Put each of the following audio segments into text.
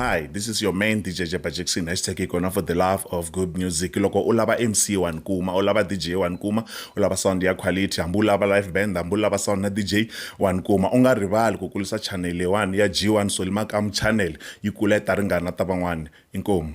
hi this is your main dj jeba jackson hashtag ikona for the love of good music loko u lava mc wa ni kuma u lava dj wa ni kuma u lava sound ya quality hambi u lava live band hambi u lava sound na dj wa ni kuma u nga rivali ku kulisa channel leyiwani ya g1 solimakamu channel yi kula yi ta ringana ta van'wani inkomu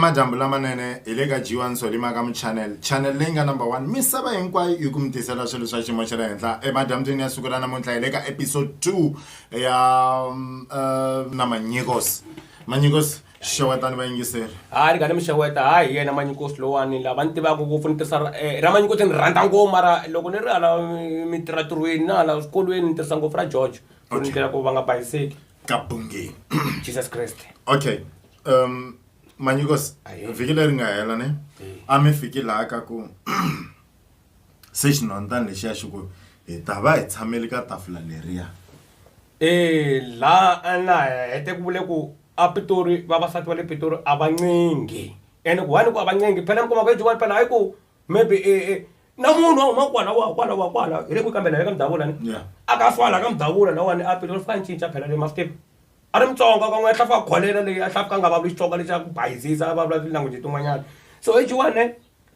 emadyambu lamanene hi le ka g1 solima ka muchanel chanel leyi nga number one misava hinkwayo yi ku mi tisela swilo swa xiyimo xa le henhla emadyambyini ya siku ra namuntlha hi le ka episode 2 ya um, uh, na manyikos manyikos xewetani vayingiseri hayi ringani mixeweta hayi hi yena manyikosi lowani lava ni tivaka ngopfu ni tirhisa ra- eh, ra manyikosi ni rhandza ngopfu mara loko ni ri hala eh, mi tirha tirhweni na hala swikolweni ni tirhisa ngopfu ra george ku ni ndlela ku va nga bayiseki kabungeni jesus kreste okay um manyikos Aye. vhiki leri nga hela ne a mi fiki laha ka ku Se xinhwanyatana lexiya xi ku, Hi ta va hi tshamele ka tafula leriya. E laha na hete ku vule ku a Pitori vavasati va le Pitori a va ncengi ene ku why ni ku a va ncengi phela mi kuma ku Joel phela hi ku maybe e e na munhu a huma kwala wa kwala wa kwala hi le kwihi kambe la ka Mudavula ne a ka fa la ka Mudavula lawani a Pitori swi nga cinca phela le ma swi tiva a ri Mutsonga kan'we a hlafuka kholera leyi a hlafuka a nga vulavuli Xitsonga lexa ku bayizisa a vulavula ti-language tin'wanyana so hi Joel ne.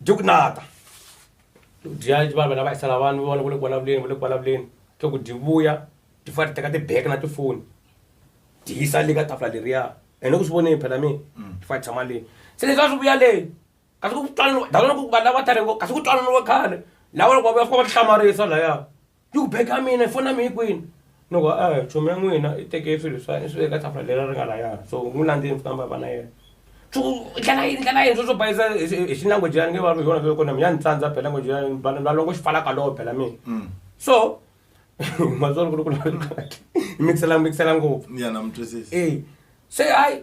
byo ku nata dya va vela va hisela vanhu vona va le ku vulavuleni va le ku vulavuleni swa ku dyi vuya ti fa ti teka tibeke na tifoni dyi yisa le ka tafula leriya ene ku swi voneni phela mina ti fa ti tshama leyi se leswi a swi vuya leyi kasi ku twanana dalo loko vanhu lava tale ngo kasi ku twananiwe khale lava loko va vuya fika va ti hlamarisa laya yi ku beka mina foni ya mina yi kwini ni ku a hi chomi ya n'wina i teke swilo swa i swi veka tafula leri ri nga layani so n'wi landzeni swi famba va na yena swi ku i ndlela yini ndlela yini swo swo bayisa hi xi- hi xilanguage ya ni nge va hi yona swo kona mina ni tsandza phela language ya vanhu valongo xi falaka lowo phela mina Mm. so matsolo ku ri ku hi mixela mixela ngopfu ya na mi twisisa eh se hayi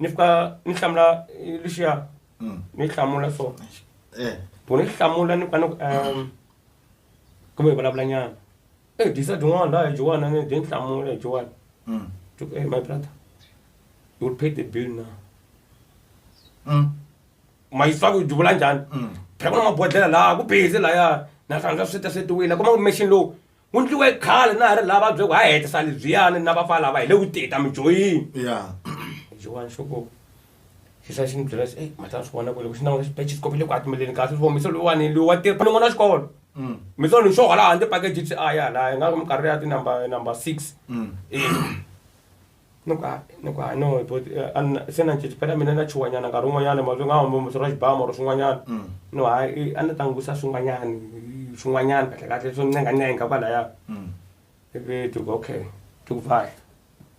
ni fika ni hlamula eh, luxiya Mm. ni hlamula so Eh. ku ni hlamula ni fika ni ku um kumbe hi vulavula nyana e disa dyin'wana laha hi dyin'wana ni dyi ni hlamula hi dyin'wana Mm. Ju- eh, my brother you will pay the bill now Mm. mayiswa ku dyivula njhani Mm. phela ku na mabodhlela laha ku busy laya na hlangana sweta swetiwile kuma ku machine lowu wu ndliwe khale na ha ri lava byoko ha hetisa lebyiyani na vafa lava hi le ku tita mijoyini ya jiwani xoko xisa xi ni byela xi matlana swi vona ku loko xi nawu xi pece xikopi le ku atimeleni kasi swi vomise lowani loyi wa tirha n'wana wa xikolo Mm. mi solo ni xoho laha ndzi pakeji swi aya laha nga ku minkarhi ya tinumber number six Mm. Eh. Ni ku hayi ni ku hayi no but eh, a ni- se na cinci phela mina na chuwanyana nkarhi wun'wanyana mavito nga hamba muthu ra xibamu or swin'wanyana Mm. no hayi i- a ni ta n'wi vutisa swin'wanyana i- swin'wanyana kahle kahle swo ncengancenga kwalaya Mm. ivi ti ku okay ti ku vhayi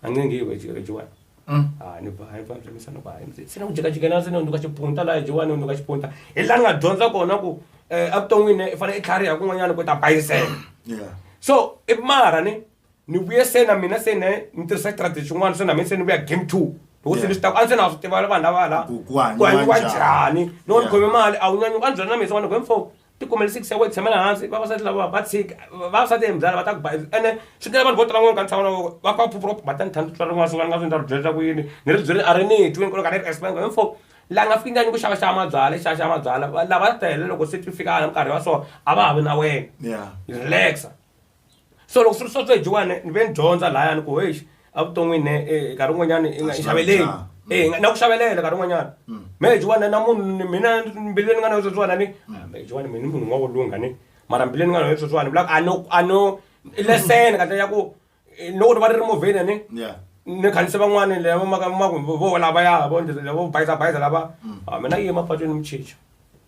a ni ngi yiwe jiwani Mm. a ni vhayi va byemisa ni ku hayi mzee, se na ku jikajikela se ni hundzuka xipunta laha jiwani ni hundzuka xipunta hi laha ni nga dyondza kona ku um evuton'wini i fanele i tlhariha kun'wanyana ku ta bayisela Yeah. so i mara ni ni vuye se na mina se ne ni tirhisa strategy xin'wana se na mina se ni vuya game two loko se ni swi ta a ndzi se na swi tiva vanhu lava la Ku- ku hanyiwa hanyiwa njhani. njhani loko ni Yeah. khome mali a wu nyanyuka a ni byela na mina se vanhu ku mfo ti kumele six ya wena tshamela hansi vavasati lava va tshika vavasati hi mbyala va ta ku ba ene swi tela vanhu vo tala n'wana ka ntshava na voko va fa phupura ku bata ni thandi tswala n'wana swin'wana nga swi ndza ri byela ku yini ni ri byele a ri ni twi ni kona ka ni ri explain ku mfo la nga fiki nganyi ku xava xava mabyala xava xava mabyala lava tele loko se ti fika a nkarhi wa so a va ha vi na wena Yeah. relaxa so loko swi ri sweswo hi jiwane ni ve ni dyondza lahayani ku heyi evuton'wini ne eh, nkarhi wun'wanyana i nga i xaveleli na. Eh, nga- na ku xavelela nkarhi wun'wanyana me hi jiwane na munhu ni- mina mbilu leyi ni nga na yo sweswiwana ni hi jiwane mina munhu wa ku lungha ni mara mbilu leyi ni nga na yo sweswiwana ni vulaka a no a no i lesson kahle ya ku eh, loko ni va ni ri movheni ni Yeah. ni khandzise van'wana lava maka maku vo lavaya vo vo bayiza bayiza lava a mina yi emapatwini ni mu chicha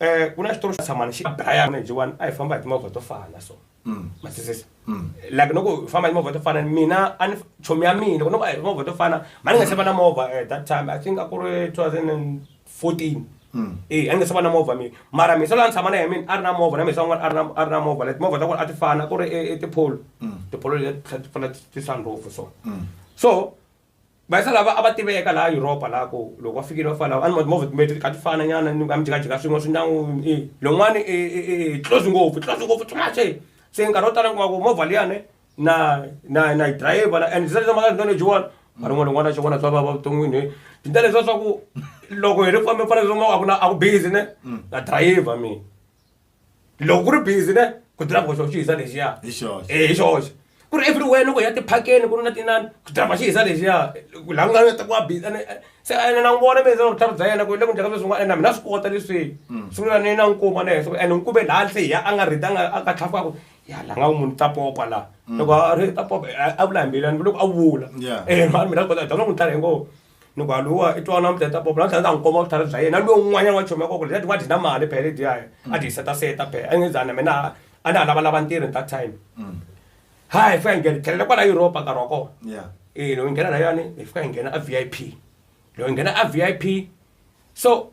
Eh, ku na xitori xa tshamani xi daya jiwani a hi famba hi timovha to fana so mm. matwisisa mm. like loko hi famba hi timovha to fana mina a ni chomi ya mina loko noko a hi timovha to fana mani nga se va na movha at eh, that time i think a ku ri 2014 mm. e a ni nga se va na movha mina mara misa loyi a ni tshama na hi mina a ri na movha na misa un'wana a ri na a ri na movha leti movha ta ku a ti fana ku ri e, e tipholo tipholo leti ti fana ti sunroof so so Vayisa lava a va tiveka laha Yuropa laha ku loko va fikile va fana a ni ma timovha timbirhi ti kha ti fana nyana ni a mi jikajika swin'we swi ndyangu i lowun'wani i i i i close ngopfu i close ngopfu too much se se nkarhi wo tala ni kuma ku movha liyani na na na yi dirayivha na and ndzi tsakisa mhaka tinene lexiwani mara n'wana n'wana xin'wana swa vava vuton'wini he byi ta leswiya swa ku loko hi ri famba hi fanele leswi kuma a ku na a ku busy ne na dirayivha mina. loko ku ri busy ne ku driver xo xi hisa lexiya hi xoxe eh hi xoxe ku ri everywhere loko ya tiphakeni ku ri na tinani ku driver xi hisa lexiya ku la ku nga ta ku wa busy ene eh, se ene na n'wi vona me se vutlhari bya yena ku le ku njhaka sweswi n'wana ene na mina swi kota leswi Mm. sungula ni na nkuma ne so ene nkube laha se ya a nga rita a nga a nga tlhafuka ku ya la nga munhu ta popa la loko a ri ta popa a- a vula hi mbilani loko a vula Mm. Yeah. eh mhani mina swi kota dama n'wi tlhari hi ngo ni ku aluwa i twa namuntlha ta popo namuntlha ta n'wi komba vutlhari bya yena lowu un'wanyana wa chomi ya koko leti wa dyi na mali phela leti yayo a dyi setaseta phela a nge zana mina a na ha lavalava ntirho hi that time mm. hayi fika hi nghena tlhelela kwala europa nkarhi wa kona e loyi hi nghena na yona hi fika hi nghena a v i p loyi hi nghena a v i p so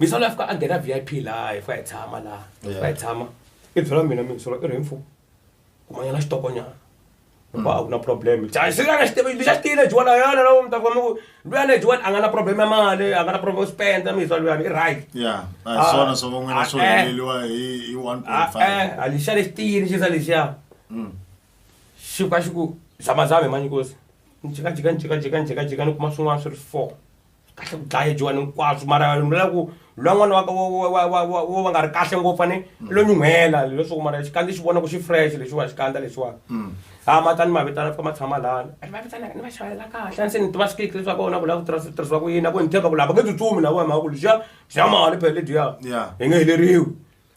misolo ya fika a nghena vip laha hi fika hi tshama laha hi fika hi tshama i byela mina misolo i ri hi mfumo kumanyana xitokonyana hikuva a ku na problem a xi nga na xitevi lexi a xi tiyile jiwani a yana lawo mi ta kuma ku luyani le jiwani a nga na problem ya mali a nga na problem yo spenda miswa luyani i right ya a hi swona swo ka n'wina swo heleliwa hi hi one point five e-e a lexiya lexi tiyile xisa lexiya xi fika xi ku zamazame manyikosi ni jikajika ni jikajika ni jikajika ni kuma swin'wana swi ri four kahle ku dlaya jiwani hinkwaswo mara ni vula ku lwa n'wana wa ka- wa- wa- wa- wa- wa- wo va nga ri kahle ngopfu ani i lo nyuhela leswaku mara xikandza xi vona ku xi fresh lexiwa xikandza lexiwani ha ma ta ni mavitana fika ma tshama lana ni mavitana ni va xavela kahle ani se ni tiva swikiki leswi va kona ku lava ku tirhisa- tirhisiwa ku yini a ku ni tshemba ku lava nge tsutsumi lava hi mhaka ku lexiya xa mali phele lediya Yeah. hi nge heleriwi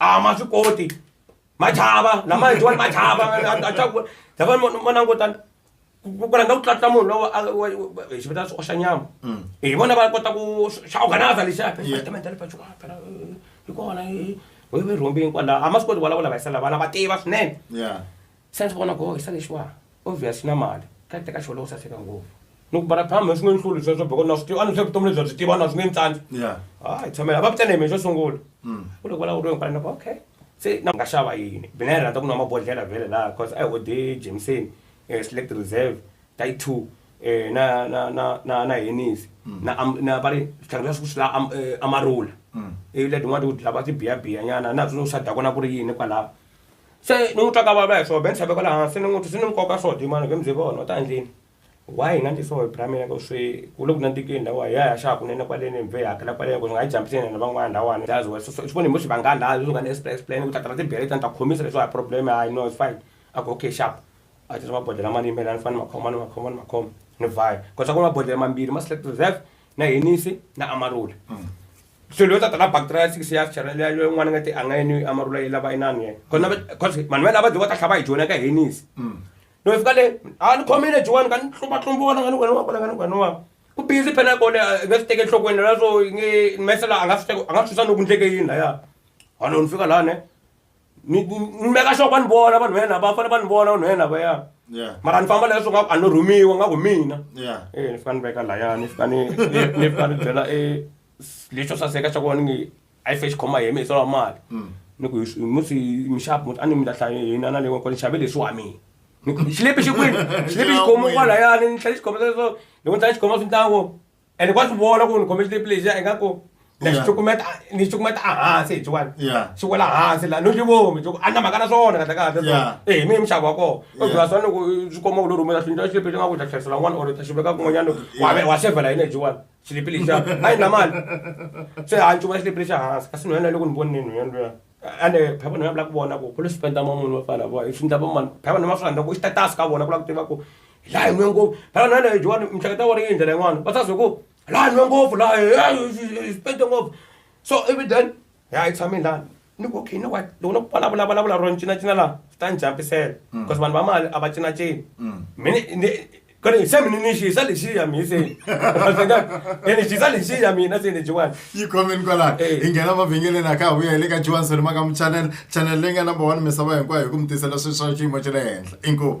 a ma swi koti ma chava lama endliwani ma chava a tlaku lava ma langutana ku rhandza ku tlatla munhu lowa hi xi vitana swi oxa nyama mm. hi vona va kota ku xa organiza lexiya department le pachuka phela hi kona hi rhumbini kwala a ma swi koti vulavula va yisela vana va tiva swinene Se ndzi vona goho xisale xiwa obvious xi na mali ka teka xo lowo saseka ngopfu ni ku bara phama swi nge ni hluli swa swa boko na swi tiva a ni swi vutomi lebyi a byi tiva na swi nge ni tsandzi Yeah. hayi tshamela va vitane mina xo sungula u loko va lawuriwe hinkwana ni ku okay se na nga xava yini mina yi rhandza ku nwa mabodlhela vhele laha cause a hi ode jameson eh, select reserve tai two eh, na na na na na henisi na am- na va ri switlhangu swa swi la am- eh, amarula ivi leti n'wana ti ku lava tibiyabiya nyana na swi swa dakona ku ri yini kwalaho se ni n'wi twa ka vava hi swona be ni tlhaveko laha hansi ni n'wi swi ni nkoka swo dyi mani be mi bye vona u ta endleni why hi nga ndli swo hi bra mina ku swi ku le ku nandzikeni lawa hi ya hi ya xava kunene kwaleni bye hi hakela kwaleni ku swi nga hi jump-isi hina na van'wana lahawani jazi wena so so swi vona hi vo xi vanga laha leswi nga ni express plan ku ta tala tibere letiya ni ta ku khomisa leswi a hi problem hayi no it's fine a ku okay xava a tisa mabodlhela mani yimela ni fane ni ma khoma ni ma khoma ni ma khoma ni vhaya ku swa ku mabodlhela mambirhi ma select reserve na henisi na amarula so loyi tata na bacteria six ya chara leya leyi n'wana nga ti a nga yini amarula yi lava inani yena kona cause vanhu va lava dyi va ta hlava hi jona ka henisi no fika le a ni khomile jiwani ka ni tlumba tlumba wona ka ni wena wa kona ka ni wena wa ku busy phela kole a nga swi teke enhlokweni la so nge mese la a nga swi teke a nga swi susa loko ndleke yini laya hano ni fika lani ni ni- ni meka sure ku va ni vona vanhu va yena va fanele va ni vona vanhu va yena vaya Yeah. mara ni famba leswo nga a no rhumiwa nga ku mina Yeah. Eh, ni fika ni veka laya ni fika ni ni- ni fika ni byela e lexo saseka xa ku va ni nge a yi fe xi khoma hi mi hi sola mali ni ku hi- musi mixapu muti a ni mi ta hlaye hina na leyi kona xave leswi wa mina ni ku xilepi xi kwini xilepi xi khomo kwalayani ni tlhela xi khoma leswo loko ni tlhela xi khoma swi ntango ene wa swi vona ku ni khome xitepu lexi a ingaku na xi cukumeta ni xi cukumeta ehansi hi xiwani xi wela hansi laha no xi vomi xi ku a na mhaka na swona kahle kahle so ehe mi hi minxavo wa kona o byela swona loko swi komba ku lo rhumela swi ndlela xitepu lexi nga ku ta hlayisela n'wana or ta xi veka kun'wanyana wa wa xevhela yini hi xiwani xitepu lexiya a yi na mali se a ni cuvula xitepu lexa hansi kasi nhwanyana ya le ku ni voneni nhwanyana luya ande phava nina vula ku vona ku kule swipenda ma munhu va fana vo swi ndla vamani phava nima swi rhandza ku i xitatasi ka vona ku la ku tiva ku laha hi nwe ngopfu phava nina leyo jowani mihleketo ya vona yi hi ndlela yin'wana va sazi ku laha hi nwe ngopfu laha swipende ngopfu so ivi then ya hi tshame lani ni ku okay you know what loko no vulavula vulavula ro ni cinacina laha swi ta ni jump-isela because vanhu va mali a va cinacini mina ni kodi nsemi ninishisa lishiya miseni enishisa lishiya mina sinijiwani yikhomen kwalano Eh. hi nghena mavhengeleni a ka ha vuya hi le ka johanson makamu channel channel leyi nga number one misava hinkwayo hi ku mi tisela swilo swa xiyimo xa le henhla inkomu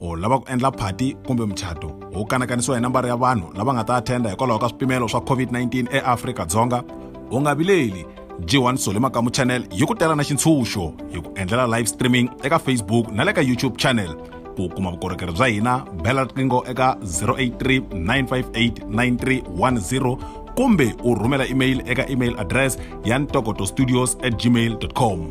u lava ku endla phati kumbe muchato wu kanakanisiwa hi nambara ya vanhu lava nga ta athenda hikwalaho ka swipimelo swa covid-19 eafrika-dzonga u nga vileli g1 sole makamu channel yi ku tela na xintshunxo hi ku endlela live streaming eka facebook na le ka youtube channel ku kuma vukorhokeri bya hina bela riqingho eka 0839589310 kumbe u rhumela email eka email address ya ntokoto studios at gmail com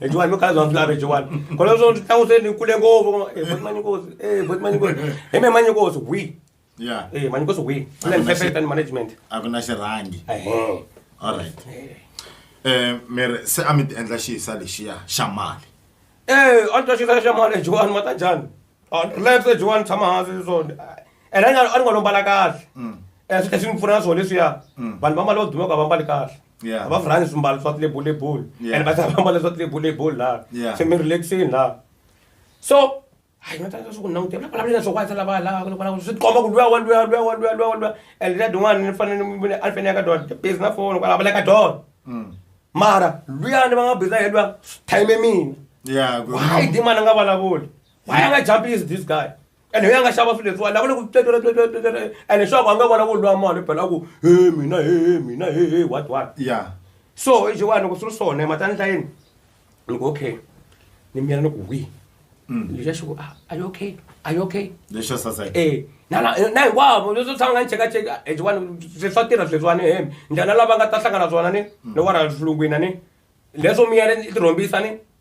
ejiwani no khala zvanzi lave ejiwani kona zvo ndzi tlangu seni kule ngopfu eh, voti manyikosi eh, voti manyikosi hi me manyikosi wi ya eh, manyikosi wi kule ni fefeta ni management a ku na xirhangi ehe allright um miri se a mi ti endla xisa lexiya xa mali Eh, a ni ta xisa xa mali ejiwani mata njhani Ah, relax ejiwani tshama hansi so and a ni nga- a ni nga lombala kahle Eh, swi tlhe swi ni pfuna na swona leswiya vanhu va mali va dumeka va mbali kahle Yeah. va rhani swimbalo swa tilebulebulu Yeah. and va tlhela va mbala swa tilebulebulu laha Yeah. se mi relaxini laha so hayi nga tsaka swi ku languta na vulavula na swo kwatsa lava laha ku vulavula swi tikomba ku luya wa luya luya wa luya luya wa luya and leta din'wana ni fanele ni vile a ni fanele ya ka dona busy na foni kwala vula ka dona Mm. mara luyani va nga busy hi luya swi time mina Yeah, good. why di mana nga vulavuli why a nga jump is this guy ene hi a nga xava swilo leswiwani lava le ku tletleletswetlele ene xaku a nga vona ku lwa mali phela ku he mina he mina he he what what ya so hi xiwani loko swi ri swona matani hlayeni ni ku okay ni miyela ni ku wi lexa xi ku "Ah, are you okay are you okay lexo saseka Eh, na na na hinkwavo leswi tshama nga ni chekacheka hi xiwani se swa tirha sweswiwani he ndlela lava nga ta hlangana swona ni ni wara xilungwini ni leswo miyela ni tirhombisa ni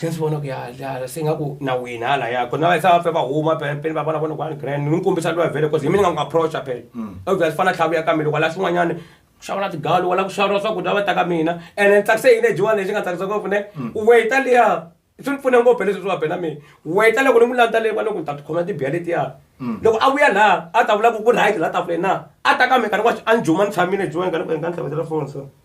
se ni swi vona ku ya hala se nga ku na wena hala ya kona va yisa va va huma peni va vona vona kwani grand ni kombisa lowa vhele cause hi mina nga n'wi approacha phela obvious mm. fana tlhavu ya ka mina loko la swin'wanyana ku xava na tigalu wala ku xava swakudya va ta ka mina ene ni tsakise yini ejiwani lexi nga tsakisa ngopfu ne mm. weta liya swi ni pfune ngopfu leswi swi va bela mina weta loko ni n'wi landza leyi va loko ni ta tikhoma tibiya letiya mm. loko a vuya laha a ta vula ku ku right laha tafuleni na a ta ka mina ka ni wa a ni juma ni tshamile ejiwani ka ni ku hi nga ni tlhavetela phone so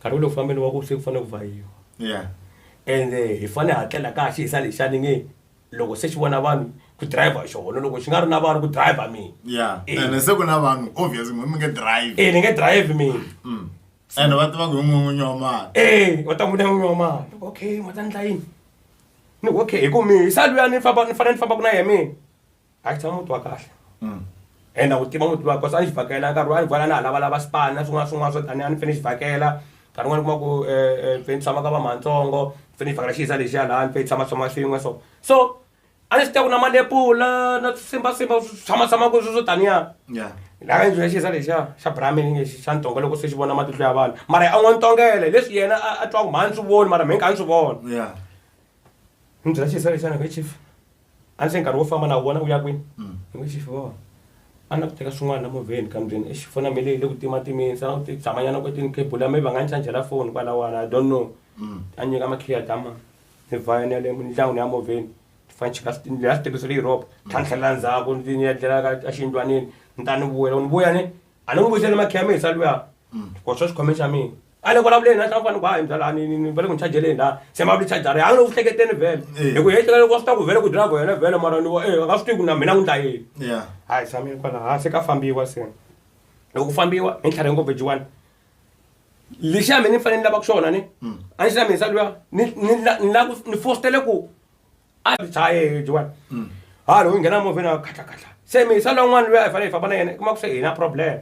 Nkarhi wolowo ku fambeni wa ku se ku fanele ku vhayiwa Yeah. ende hi fanele ha tlela ka xi hisa lexani nge loko se xi vona vanhu ku driver xona loko xi nga ri na vanhu ku driver mina Yeah. Eh. Ene se ku na vanhu obvious mi mi nge drive. e ni nge drive mina Mm. Ene va tiva ku hi n'winyi wa mali. e va ta n'wi n'wi wa mali Ni ku, okay ma ta ndla yini ni ku, okay hi ku mi hisa luya ni famba ni fanele ni fambaka na yena mina a tshama muti wa kahle and a wu tiva muti wa kosa a ni xi vhakela nkarhi wa ni vona na ha lavalava swipani na swin'wana swin'wana swo tani a ni fane xi vhakela nkarhi wun'wana kuma ku um fe ni tshama ka va mahantsongo fe ni vhakela xiza lexiya laha ni fe ni tshama tshama swin'we so so a ni swi tiva ku na malepula na swisimbasimba tshamatsama ku swi swo taniya laka ndzi ya xiza lexiya xa brahmin lexi xa ntonga loko se xi vona matihlo ya vanhu mara a n'wi ntongele leswi yena a twa ku mhani swi voni mara mi nga ni swi vona ni byela xiza lexiyana ka chief a se nkarhi wo famba na wona wu ya kwini ni ku xifi vona a na ku teka swin'wana na movheni kambyeni exi fona mele yi le ku timatimeni sa ti tshamanyana kwetini khebula maybe va nga ni chajela foni kwalawani i don't know a nyika makhiya tama ni vhaya ni ya le ndyangwini ya movheni ni fane chika leya switirhiso leyi ropa tlhantlhelela ndzhaku ndzi ni ya dlela ka exiyindlwaneni ni ta ni vuyela ni vuya ni a ni n'wi vuyisela makhemisa luya ku swa xikhome xa mina a ni vulavuleni na xafanele ku hayi mbyalani va le ku ni chajeleni la se ma vuli chajara ya a ni le ku hleketeni vhele hi ku hehleka loko swi ta ku vhele ku drive yena vhele mara ni vo e a nga swi tivi ku na mina n'wi ndla yini ya hayi samile kwala hansi ka fambiwa se loko ku fambiwa hi ntlhari ngopfu jiwani lexi ya mina ni fanele ni lava ku xona ni a ni xi lamisa luya ni ni la- ni la ku ni fostele ku a byi tshaye byiwani ha loyi nghena movheni a khatlakhatla se mi yisa lwan'wana luya i fanele i famba na yena kuma ku se hina problem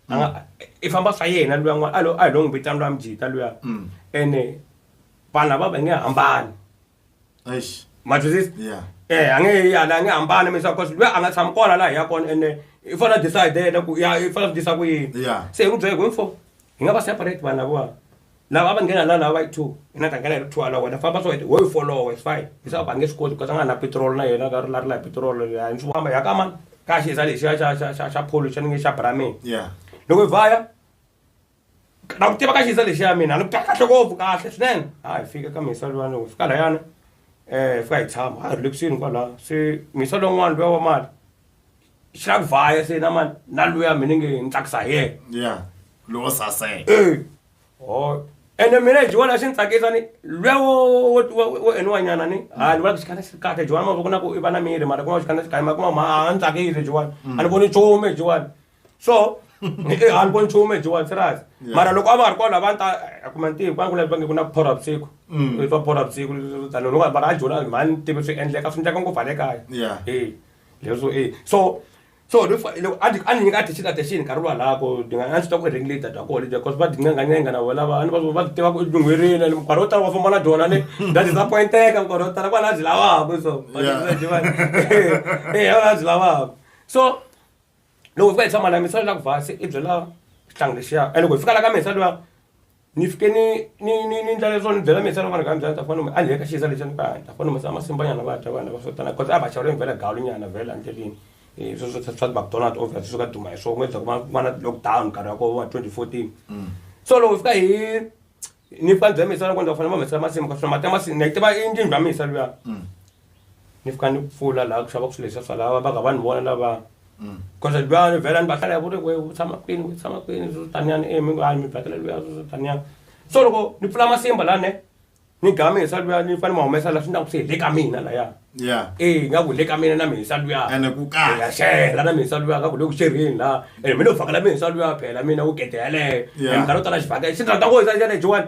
a nga i famba swa yena luya n'wana a lo a hi lo n'wi vitana luya mujita luya ene vanhu lava va nge hambani ma twisisa eh a nge yala a nge hambani mi swa cause luya a nga tshami kona laha hi ya kona ene i fanele a decide-ela ku ya i fanele a swi tisa ku yini se hi n'wi byele hi ku info hi nga va separate vanhu lavawa. Lava a va nghena la lava va yi two hi na ta nghena hi ri two ala wena famba so wo yi folowa it's fine hi swa va nge swi koti because a nga na petrol na yena ka ri la ri la hi petrol ya ni swi famba ya ka mani ka xi za lexiya xa xa xa xa pholo xa ni nge xa bramini loko hi vaya na ku tiva ka xi za lexiya mina ni ka kahle ngopfu kahle swinene ha hi fika ka misa lwana hi fika layani um hi fika hi tshama ha ri le kusuhini kwalaho se misa lowun'wana luya wa mali xi la ku vaya se na mani na luya mina nge ni tsakisa hi yena lowo saseka oh ene mina hi vona swi ni tsakisa ni lwewo wo eniwa nyana ni ha ni vona ku xikana xi ri kahle jiwani mavoko na ku i va na miri mara kuma xikana xi kahle ma kuma ma a ni tsakisi jiwani a ni voni nchumu hi jiwani so a ni voni nchumu hi jiwani serious mara loko a va ha ri kona va ni ta kuma ntivo va ni kula va nge ku na phora vusiku i twa phora vusiku tani loko mara a joni mhani tivi swi endleka swi endleka ngopfu ha le kaya e leswo e so so ni fa- loko a ti- a ni nyika attention attention nkarhi wa lako ni nga a swi ta ku i ringi data kona dya cause va dincengancenga na vona va ni va va ti tiva ku i lunghwerini and nkarhi wo tala va famba na dyona ni bya disappointeka nkarhi wo tala kwala a byi lavaka so va Yeah. ti- va ti- eh a byi lavaka so loko hi fika hi tshama na mina swi la ku vasi i byela xihlangi lexiya and loko hi fika la ka mina swi la Ni fike ni ni ni ni ndla leswo ni byela me xana vanhu ka ndlela ta fana mi a ni heta xiza lexi ni ka ta fana mi sa masimba nyana va ta vana va sotana because a va xava ri vhela galu nyana vhela ndleleni i swi swi swi swa McDonald's over swi ka duma hi swona ku endla ku va va na lockdown nkarhi wa kona wa twenty fourteen so loko fika hi ni fika ni byela me xana ku ni ta fanele va humesa masimu ka swona mati ya masi ni tiva i ndlwini bya mina luya ni fika ni pfula laha ku xavaka swilo leswiya swa lava va nga va ni vona lava mm. cause luya ni vhela ni va hlaya ku ri we u tshama kwini u tshama kwini swo taniyani e mi ngani mi vhakela luya swo taniyani so loko ni pfula masimba lani ni gamisa luya ni fane ma humesa laha swi ndlaku se hi le ka mina laya e nga ku le ka mina na mihisa luya ya xela na mihisa luya ka ku le ku xerheni laha ene mi ni u vhakela mihisa luya phela mina wu gede yaleyo e minkarhi yo tala xivhaka xi ndla ta ku hisa xana jiwani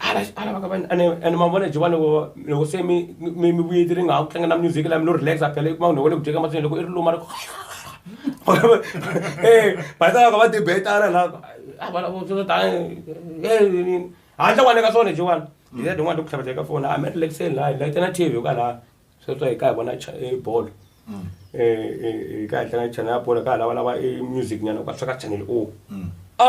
ala ala va ka vanhu ene ene ma vona jovani loko loko se mi mi mi vuyeti ri nga ha ku tlanga na music lami lo relax a phela i kuma munhu wa le ku dyeka matsini loko i ri luma ri e batalaka va debetana la a va lavo swo tani e handle kwane ka swona jovani hi ya tin'wana ti ku tlhavateka foni a mi relaxeni laha hi layitana tv yo ka laha sweswo hi ka hi vona bolo um hi ka hi tlanga chana ya bolo ka hi lavalava i music nyana ka sweka channel o a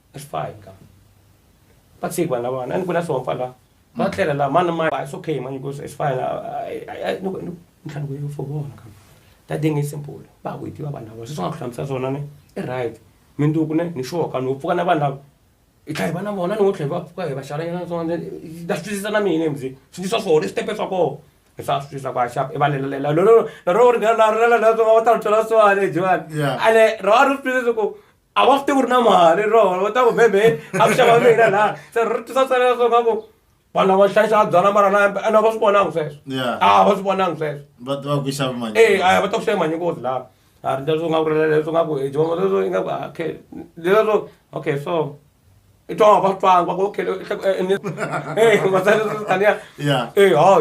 a swi faka va tshiki vanhu lavana a ni ku na swihompfa laha va mm. tlela laha mani ma it's okay mani because it's fine ni ku ntlhantlho yo for vona kambe ta dinge simple va ku yi tiva vanhu lava sweswi nga ku hlamusela swona ni i right minduku ne ni xoka ni pfuka na vanhu lava i tlha hi va na vona ni ngo tlhe hi va pfuka hi va xalanyana na swona na swi twisisa na mina mzi swi ndzi swa swona i switepe swa kona hi swa swi twisisa ku haxa i va lelalela lolo lolo ri nga na ri lelalela swona va ta ri twela swona jiwani ale ro a ri swi twisisa ku a va swi tivi ku ri na mali rona va ta ku bebe a ku xava mina laha se ri tisa tsela leswo ka ku vanhu lava hlayisa byala mara na a va swi vonangi sweswo Yeah. a va swi vonangi sweswo va tiva ku xava mali Eh, aya va ta ku xava manyikozi laha a ri leswo nga ku ri leswo nga ku eh, Jehovah, leswo ingaku, ah, okay leswo okay so i twa nga va twanga va ku okay eh matsale tania Yeah. eh ha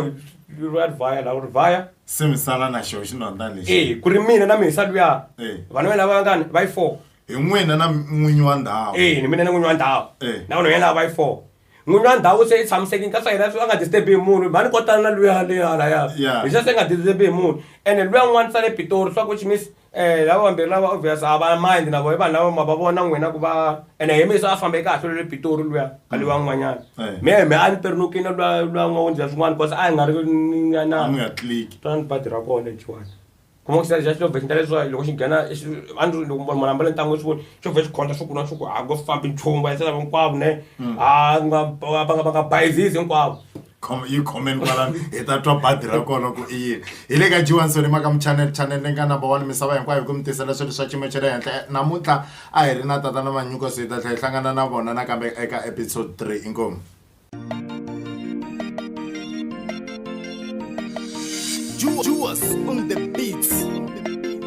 lu ya vaya la uri vaya se mi sala na xo xinonda lexi eh ku ri mina na misa luya Eh. vana va lava ngani va yi four hi n'wina na n'winyi wa ndhawu eh ni mina ni n'winyi wa ndhawu Eh. na vanhu yena va yi four n'winyi wa ndhawu se i tshamiseki nkatsa yena swi a nga disturbi hi munhu mhani kotana na luya le halaya Yeah. hi se se nga disturbi hi munhu ene luya n'wana sale pitori swa ku chimisi Eh, lava vambirhi lava obvious a va mind na vona i vanhu lava ma va vona n'wina ku va ene hi mixo a fambe kahle lwe le pitori luya a luya n'wanyana Eh. mi mi a ni perinukini lwa lwa n'wa wundza swin'wana bcause a hi nga ri ni- a na mi nga tliki twa ni badi ra kona lexiwani kuma ku xa xo vexinta leswiwa loko xi nghena xi- a ni ri loko munhu ambale ntangu swi voni xo vhe xi khonta swi kuna swi ku a ko fambi nchumu va yisela hinkwavo ne a nga va nga va nga bayizisi hinkwavo khoma yi khomeni kwalani hi ta twa badi ra kona ku i yini hi le ka jiwansoni maka muchanel chanel leyi nga number one misava hinkwayo ku mi tisela swilo swa xiyimo xa le henhla namuntlha a hi ri na tata na manyuko so hi ta tlhela hi hlangana na vona nakambe eka episode 3 inkomu Juas on the beats.